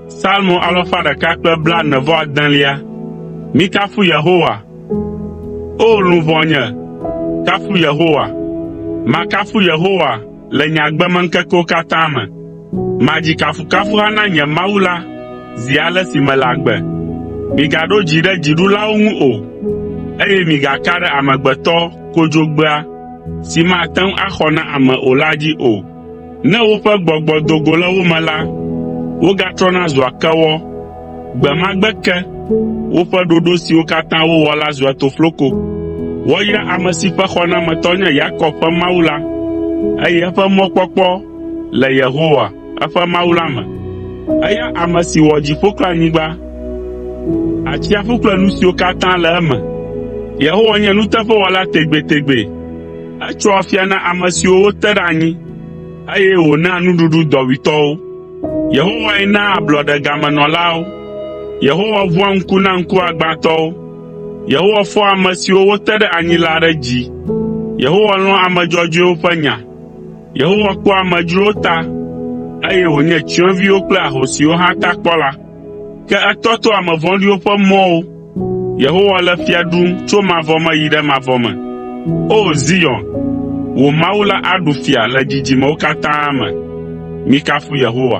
Salmo alafa ɖeka kple blaene-vɔ-adelia. Mikafu Yehowa. O luʋɔnye, kafu Yehowa. Makafu Yehowa le nye agbemeŋkekewo katã me. Madzi kafukafuha na nye Mawu la zi ale si mele agbe. Migaɖo dzi ɖe dziɖulawo ŋu o, eye migaka ɖe amegbetɔ kodzogbea si mate ŋu axɔ na ame o la dzi o. Ne woƒe gbɔgbɔ do go le wo me la, wogatrɔna zua kewɔ. Gbe ma gbe ke, woƒe ɖoɖo siwo katã wowɔ la zua tofloko. Woayra ame si ƒe xɔnametɔ nye Yakob ƒe Mawu la, eye eƒe mɔkpɔkpɔ le Yehowa, eƒe Mawu la me. Eya ame si wɔ dziƒo kple anyigba, atsiaƒu kple nu siwo katã le eme. Yehowa nye nuteƒewɔla tegbetegbe. Etsɔa afia na ame siwo wote ɖe anyi, eye wònaa nuɖuɖu dɔwuitɔwo. Yehowae naa ablɔɖe gamenɔlawo. Yehowa ʋua ŋku na ŋkuagbãtɔwo. Yehowa fɔa ame siwo wote ɖe anyi la ɖe dzi. Yehowa lɔ̃a ame dzɔdzɔewo ƒe nya. Yehowa kpɔa amedzrowo ta, eye wònye tsyɔ̃eviwo kple ahosiwo hã ta kpɔla, ke etɔtoa ame vɔ̃ɖiwo ƒe mɔwo. Yehowa le fia ɖum tso mavɔ me yi ɖe mavɔ me. O! Zion, wò Mawu la aɖu fia le dzidzimewo katã me. Mikafu Yehowa.